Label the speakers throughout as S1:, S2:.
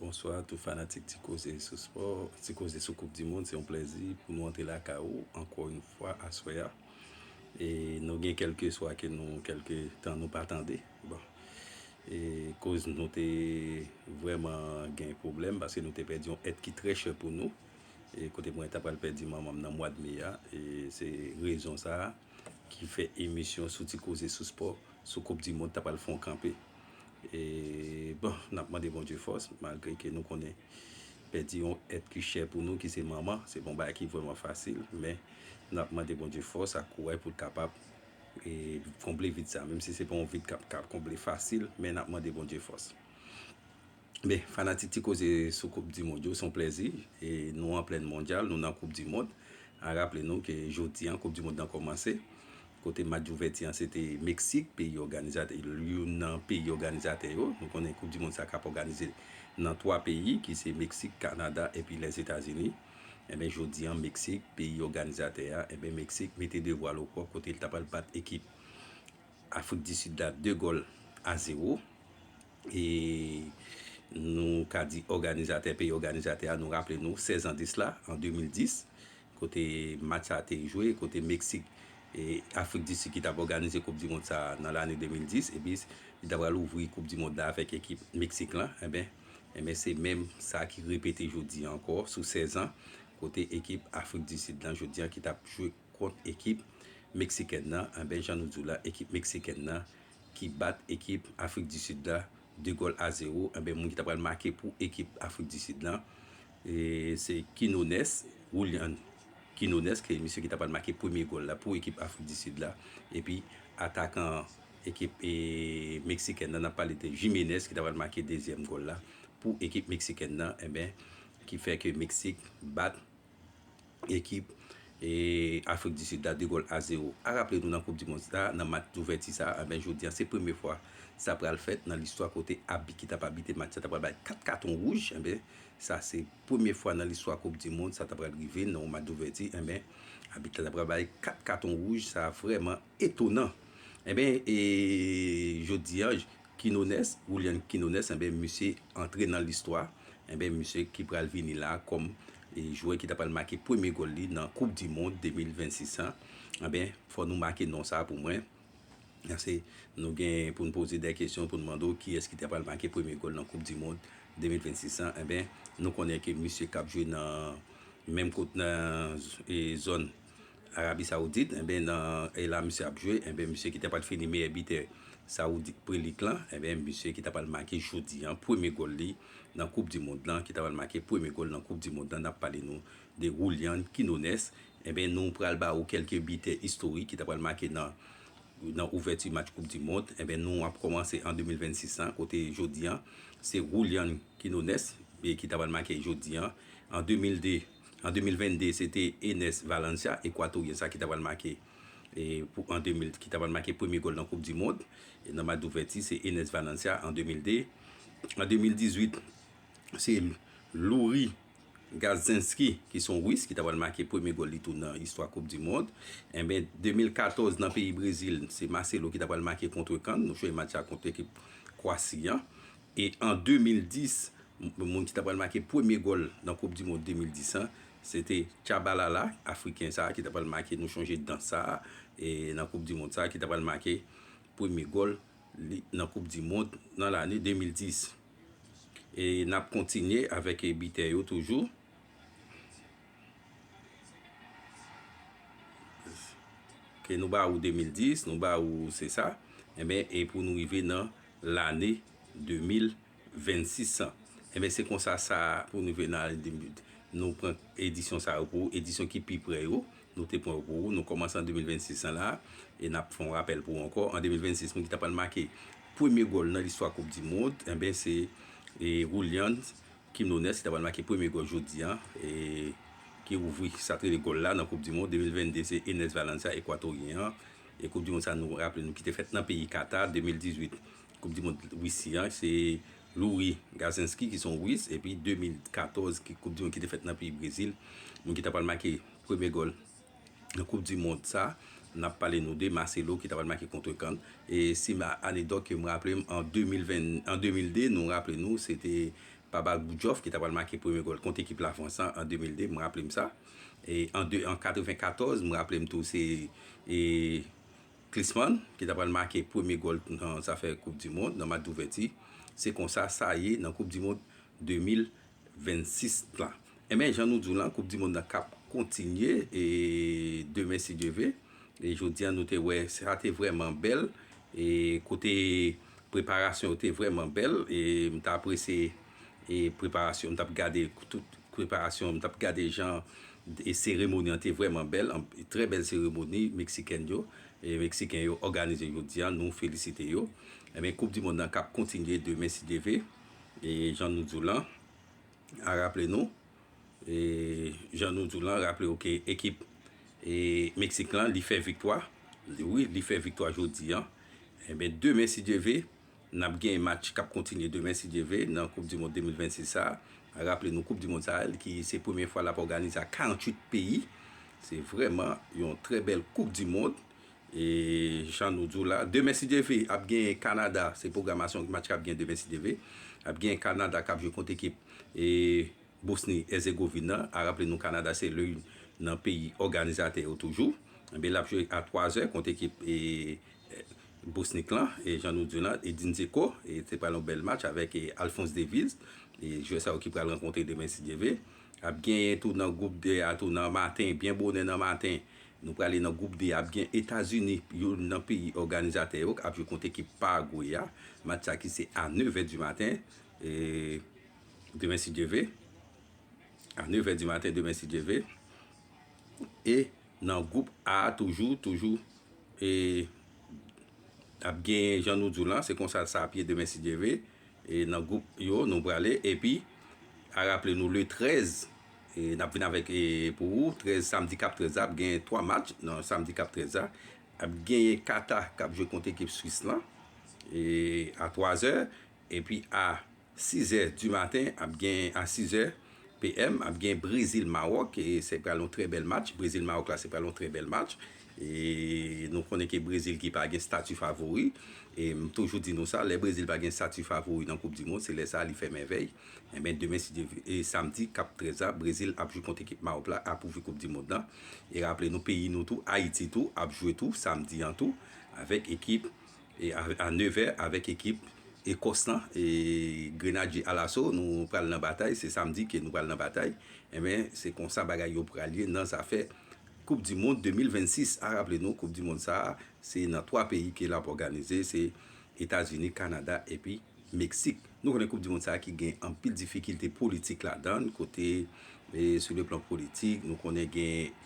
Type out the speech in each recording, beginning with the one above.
S1: Bonswa a tout fanatik ti koze sou spò, ti koze sou koup di mond, se yon plèzi pou nou antre la ka ou ankò yon fwa aswè a, e nou gen kelke swa ke nou kelke tan nou pa tande, bon e koz nou te vreman gen pwoblèm paske nou te pèdi yon èt ki trè chè pou nou, e kote mwen ta pral pèdi manman m nan mwad me a, e se rezon sa ki fè emisyon sou ti koze sou spò. sou koup di mond ta pral fon kanpe e bon nap mande Bondye fòs malgre ke nou konnen pèdi yon èt ki chè pou nou ki se manman se pa yon bagay ki vrèman fasil men nap mande Bondye fòs ak kouraj poul kapab e konble vid sa menm si se pa yon vid kap konble fasil men nap mande Bondye fòs. Ebyen fanatik ti koze sou koup di mond yo son plèzi e nou anplèn mondyal nou nan koup di mond a raple nou ke jodi an koup di mond nan kòmanse kote match ouvèti an se te Meksik peyi òganizatè youn nan peyi òganizatè yo nou konnen koup di mond sa kap òganize nan 3 peyi ki se Meksik Kanada epi Lèzetazini ebyen jodi an Meksik peyi òganizatè a ebyen Meksik mete devwal okò kote li ta pral bat ekip Afrik di Sid la 2 gòl a 0. e nou ka di òganizatè, peyi òganizatè a, nou raple nou 16 an desla, an 2010, kote match sa a te jwe, kote Meksik e Afrik di Sid ki t ap òganize koup di mond sa a nan lane 2010, epi li ta pral ouvri koup di mond la avèk ekip Meksik lan, enben, enben se menm sa ki repete jodi a ankò sou 16 an, kote ekip Afrik di Sid lan jodi a ki t ap jwe. kont ekip meksikèn nan, anben jan nou diw la ekip meksikèn nan ki bat ekip Afrik di Sid la 2 gòl a 0, anben moun ki ta pral make pou ekip Afrik di Sid lan se Quinones, Julian Quinones ke misye ki ta pral make premye gòl la pou ekip Afrik di Sid la, epi atakan ekip meksikèn nan nap pale de Jimenez ki ta pral make dezyèm gòl la pou ekip meksikèn nan, anben ki fè ke Meksik bat. ekip Afrik di Sid la 2 gòl a 0. A raple nou nan koup di mond sa, nan match douvèti sa, anben jodi an se premye fwa sa pral fèt nan listwa kote abit ki t ap abitre match sa ta pral bay 4 katon wouj, anben sa se premye fwa nan listwa koup di mond sa ta pral rive nan yon match douvèti, anben abit la ta pral bay 4 katon wouj, sa vrèman. Etonan! Enben, e jodi a, Quinones, Julian Quinones, enben misye antre nan listwa, enben misye ki pral vini la kòm jwè ki ta pral make premye gòl li nan koup di mond 2026 an, enben fò nou make non sa pou mwen, se nou gen pou nou poze dè kesyon pou nou mande w kiyès ki ta pral make premye gòl nan koup di mond 2026 an, enben nou konnen ke misye k'ap jwe nan menm kot nan zòn. Arabi Saoudit enben nan e la misye ap jwe enben misye ki ta pral fini meyè bitè Saoudi pre lig lan enben misye ki ta pral make jodi an premye gòl li nan koup di mond lan ki ta pral make premye gòl nan koup di mond lan nap pale nou de Roulian Quinones enben nou pral ba ou kèlke bitè istorik ki ta pral make nan nan ouvèti match koup di mond enben nou ap kòmanse an 2026 lan kote jodi an se Roulian Quinones ki ta pral make jodi an an 2002. An 2022 se te Enes Valencia, Ekwatoryen sa ki ta pral make pou an 2000 ki ta pral make premye gòl nan koup di mond e nan match douvèti se Enes Valencia an 2002. An 2018 se Loury Gazdzinski ki son Wis ki ta pral make premye gòl li tou nan istwa koup di mond. Enben 2014 nan peyi Brezil se Marcelo ki ta pral make kontre kan, nou jwe match a kont ekip Kwasi an. E an 2010, moun ki ta pral make premye gòl nan koup dimond 2010 an, se te Tshabalala, afriken sa a ki ta pral make, nou chonje dans sa a, e nan koup dimond sa a ki ta pral make premye gòl li nan koup dimond nan lane 2010. E n ap kontinye avèk bitè yo toujou. Ke nou ba ou 2010, nou ba ou se sa, enben e pou nou rive nan. lane 2026 an. Enben se konsa sa pou nou vin al di nou pran edisyon sa yo pou ou, edisyon ki pi pre yo, nou te pran yo pou ou. Nou kòmanse an 2026 an la a e n ap fè yon rapèl pou ou ankò, an 2026 moun ki ta pral make premye gòl nan listwa koup di mond, enben se Roulian Quinones ki ta pral make premye gòl jodi a e ki ouvri sa t rele gòl la nan koup di mond 2022 se Enes Valencia, Ekwatoryen an. E koup di mond sa nou raple nou ki te fèt nan peyi Kata 2018. Koup di mond Wisi an se Louri Gazenski ki se yon Wis epi 2014 ki koup di mond ki te fèt nan peyi Brezil. Moun ki ta pral make premye gòl nan koup di mond sa n ap pale nou de Maselo ki ta pral make kontre kan. E si m anedòt ke m raple m an 2002 nou raple nou se te Pabal Goudjòf ki ta pral make premye gòl kont ekip Lafrans an an 2002 m raple m sa. an 94, m raple m tou se Klismann ki ta pral make premye gòl nan zafè koup di mond nan match douvèti, se konsa sa ye nan koup di mond 2026 la. Enben jan nou di w lan koup di mond lan kap kontinye e demen si Dye ve e jodi an nou te wè sa te vrèman bèl e kote preparasyon te vrèman bèl e m ta apresye e preparasyon m tap gade tout preparasyon m tap gade jan e seremoni an te vrèman bèl trè bèl seremoni meksikèn yo e meksiken yo òganize jodi an nou felisite yo enben koup di mond lan kap kontinye demen si Dye ve e jan nou di w lan a raple nou e jan nou di w lan raple w ke ekip e meksik lan li fè viktwa wi li fè viktwa jodi an enben demen si Dye ve. N ap gen match k ap kontinye demen si Dye ve nan koup di mond 2026 sa. Raple nou koup di mond sa ki se premye fwa l ap òganize ak 48 peyi. Se vrèman yon trè bèl koup di mond e jan nou di w la demen si Dye ve ap gen Kanada se pwogramasyon match k ap gen demen si Dye ve. Ap gen Kanada k ap jwe kont ekip e. Bosni Èzegovin an a raple nou Kanada se youn nan peyi òganizatè yo toujou. Enben l ap jwe a 3 zè kont ekip bosnik lan e jan nou di w la Edin Dzeko e se pral yon bèl match avèk Alphonse Davies e jwè sa yo ki pral rankontre demen si Dye ve. Ap genyen tou nan gwoup 2 a tou nan maten byen bonè nan maten nou prale nan gwoup 2 a ap gen Etazini youn nan peyi òganizatè yo k ap jwe kont ekip Paragwe a match sa ki se a 9 è di maten e demen si Dye ve, a nevè di maten demen si Dye ve, e nan gwoup A a toujou, toujou, e ap gen jan nou di w lan, se konsa sa ap ye demen si Dye ve, e nan gwoup yo nou prale, epi a raple nou le 13, e n ap vin avèk e pou ou, 13 samdi kap 13 la, ap gen 3 match nan samdi kap 13 la, ap genyen Kata kap jwe kont ekip Swis lan, e a 3 zè, epi a. Sizè di maten ap gen a sizè PM ap gen Brezil Mawòk e se pral yon trè bèl match Brezil Mawòk la se pral yon trè bèl match e nou konnen ke Brezil ki pa gen stati favori e m toujou di nou sa lè Brezil pa gen stati favori nan koup di mond se lè sa li fè mèvèy enben demen si Dye vle e samdi kap 13 la Brezil ap jwe kont ekip Mawòk la a pou vi koup di mond lan e raple nou peyi nou tou Ayiti tou ap jwe tou samdi an tou avèk ekip E a nevè avèk ekip Ekòs lan e Grenadye Alaso nou pral nan batay, se samdi ke nou pral nan batay. Enben se konsa bagay yo pral ye nan zafè koup di mond 2026 a raple nou koup di mond sa a se nan 3 peyi ke lap òganize se Etazini, Kanada epi Meksik. Nou konnen koup di mond sa a ki gen anpil difikilte politik ladann kote sou le plan politik nou konnen gen.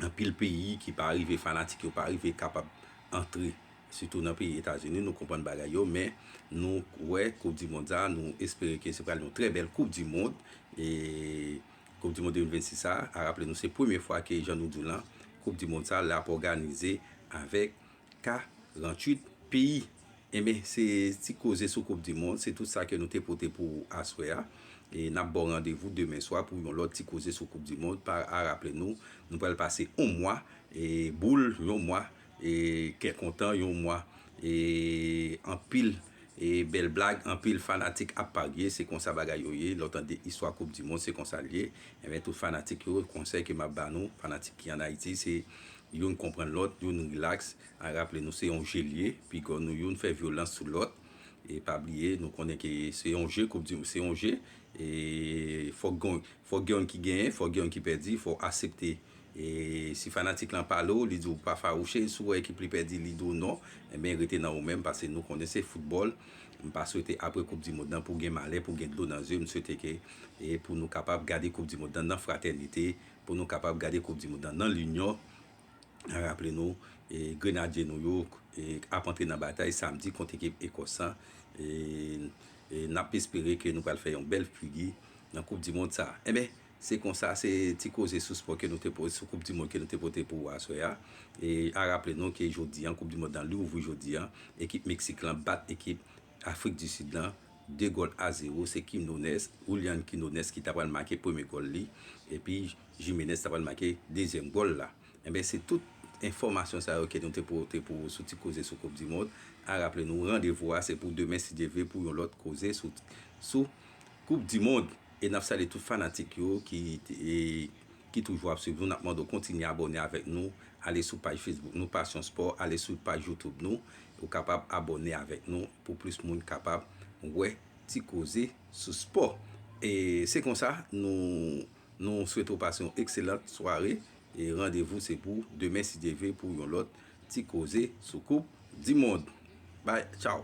S1: anpil peyi ki pa rive fanatik yo pa rive kapab antre sitou nan peyi etazini nou konprann bagay yo men nou wè koup di mond sa nou espere ke se pral yon trè bèl koup di mond e koup di mond 2026 sa a raple nou se premye fwa ke jan nou di w lan koup di mond sa l ap òganize avèk 48 peyi. Enben, se ti koze sou koup di mond, se tout sa ke nou te pote pou ou aswè a. E nap baw randevou demen swa pou yon lòt ti koze sou koup di mond. Pa a raple nou, nou pral pase on mwa e boul, yon mwa e kè kontan, yon mwa e anpil e bèl blag, anpil fanatik ap parye, se konsa bagay yo ye, lè w tande istwa koup di mond se konsa l ye. Enben tout fanatik yo, konsèy ke map ba nou, fanatik ki an Ayiti, se youn konprann lòt, youn rilaks. An raple nou se yon je l ye, pigaw nou youn fè vyolans sou lòt e pa bliye nou konnen ke se yon je koup di se yon je e fòk gon fòk gen youn ki genyen fòk gen youn ki pèdi fòw asepte e si fanatik lan pale w li di w pa fawouche si w wè ekip li pèdi li di w non enben rete nan ou menm pase nou konnen se foutbòl m pa swete apre koup di mond lan pou gen malè pou gen dlo nan zye m swete ke e pou nou kapab gade koup di mond lan nan fratènite pou nou kapab gade koup di mond lan nan linyon. N a raple nou grenadye nou yo ap antre nan batay samdi kont ekip Ekòs la e n ap espere ke nou pral fè yon bèl figi nan koup di mond sa. Enben se konsa se ti koze sou spò ke nou te pote sou koup di mond ke nou te pote pou ou aswè a e a raple nou ke jodi an koup di mond la louvri jodi an ekip Meksik lan bat ekip Afrik di Sid lan 2 gòl a 0 se Kimnonez Willian Kimnonez ki ta pral make premye gòl li epi Jimenez ta pral make dezyèm gòl la. Enben se tout enfòmasyon sa yo ke nou te pote pou ou sou ti koze sou koup di mond a raple nou randevou a se pou demen si Dye vle pou yon lòt koze sou sou koup di mond e nap salye tout fanatik yo ki e ki toujou ap swiv nou nap mande w kontinye abòne avèk nou ale sou paj Facebook nou passion sport ale sou paj YouTube nou ou kapab abòne avèk nou pou plis moun kapab wè ti koze sou sport e se konsa nou. Nou swete w pase yon ekselant sware e randevou se pou demen si Dye vle pou yon lòt ti koze sou koup di mond. Bye! Tchaw!